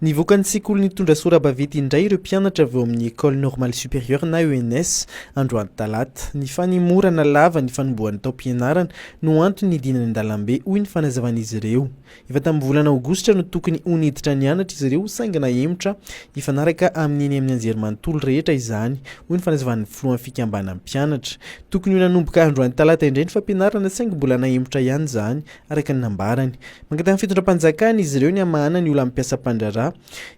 Nivoaka ny sekolin'ny tondra sora-baventy indray ireo mpianatra avy ao amin'ny Ecole Normale Supérieure na ENS, androany talata. Ny fanemorana lava ny fanombohan'ny taom-pianarana no antony nidinany an-dalambe, hoy ny fanazavan'izy ireo. Efa tamin'ny volana aogositra no tokony ho niditra nianatra izy ireo saingy nahemotra. Hifanaraka amin'ny eny amin'ny anjerimanontolo rehetra izany, hoy ny fanazavan'ny filohan'ny fikambanan'ny mpianatra. Tokony ho nanomboka androany talata indray ny fampianarana saingy mbola nahemotra ihany izany, araka ny nambarany. Mangataha ny fitondram-panjakana izy ireo ny hamahana ny olan'ny mpiasa mpandraharaha,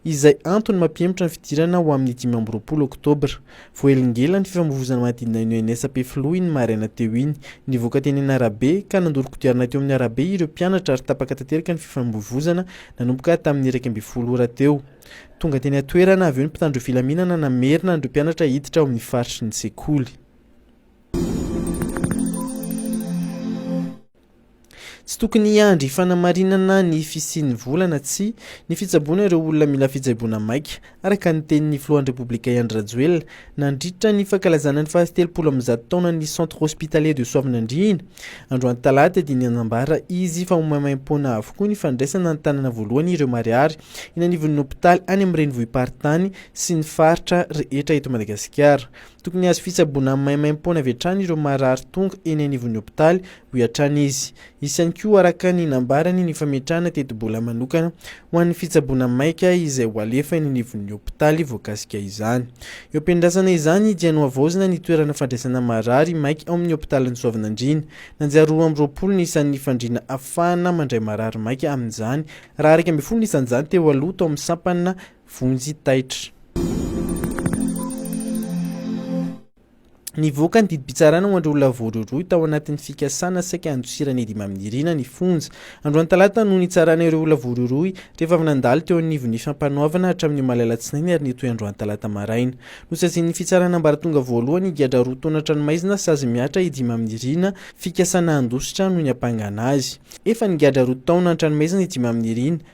izay antony mampihemotra ny fidirana ho amin'ny dimy amby roapolo oktobra. Voaelingela ny fifamoivoizana manodidina ny ONS Ampefiloha iny maraina teo iny. Nivoaka teny eny arabe, ka nandoro kodiarana teo amin'ny arabe ireo mpianatra ary tapaka tanteraka ny fifamoivoizana nanomboka tamin'ny iraika ambin'ny folo ora teo. Tonga teny an-toerana avy eo ny mpitandro filaminana namerina an'ireo mpianatra hiditra ao amin'ny faritry ny sekoly. Tsy tokony hiandry fanamarinana ny fisian'ny vola na tsia ny fitsaboana ireo olona mila fitsaboana maika, araka ny tenin'ny filohan'ny Repoblika Andry Rajoelina, nandritra ny fankalazana ny fahatelopolo amby zato taonan'ny Centre Hospitalier de Soavinandriana, androany talata, dia nanambara izy fa ho maimaimpoana avokoa ny fandraisana an-tanana voalohany ireo marihary eny anivon'ny hopitaly any amin'ny renivohi-paritany sy ny faritra rehetra eto Madagasikara. Tokony hahazo fitsaboana maimaimpoana avy hatrany ireo marary tonga eny anivon'ny hopitaly, hoy hatrany izy. Hisy ihany koa, araka ny nambarany, ny fametrahana tetibola manokana ho an'ny fitsaboana maika izay ho alefa eny anivon'ny hopitaly voakasika izany. Eo am-piandrasana izany dia nohavaozina ny toerana fandraisana marary maika ao amin'ny hopitalin'i Soavinandriana. Nanjary roa amby roapolo ny isan'ny fandriana hahafahana mandray marary maika amin'izany, raha iraika ambin'ny folo ny isan'izany teo aloha tao amin'ny sampana vonjy taitra. Nivoaka ny didim-pitsarana ho an'ireo olona voarohirohy tao anatin'ny fikasana saika handosiran'i Eddy Maminirina ny fonja. Androany talata no nitsarana ireo olona voarohirohy rehefa avy nandalo teo anivon'ny Fampanoavana hatramin'ny omaly alatsinainy ary nitohy androany talata maraina. Nosazian'ny fitsarana ambaratonga voalohany higadra roa taona an-tranomaizina sazy mihatra Eddy Maminirina, fikasana handositra no niampangana azy. Efa nigadra roa taona an-tranomaizina Eddy Maminirina.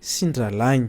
sy ny rahalahiny.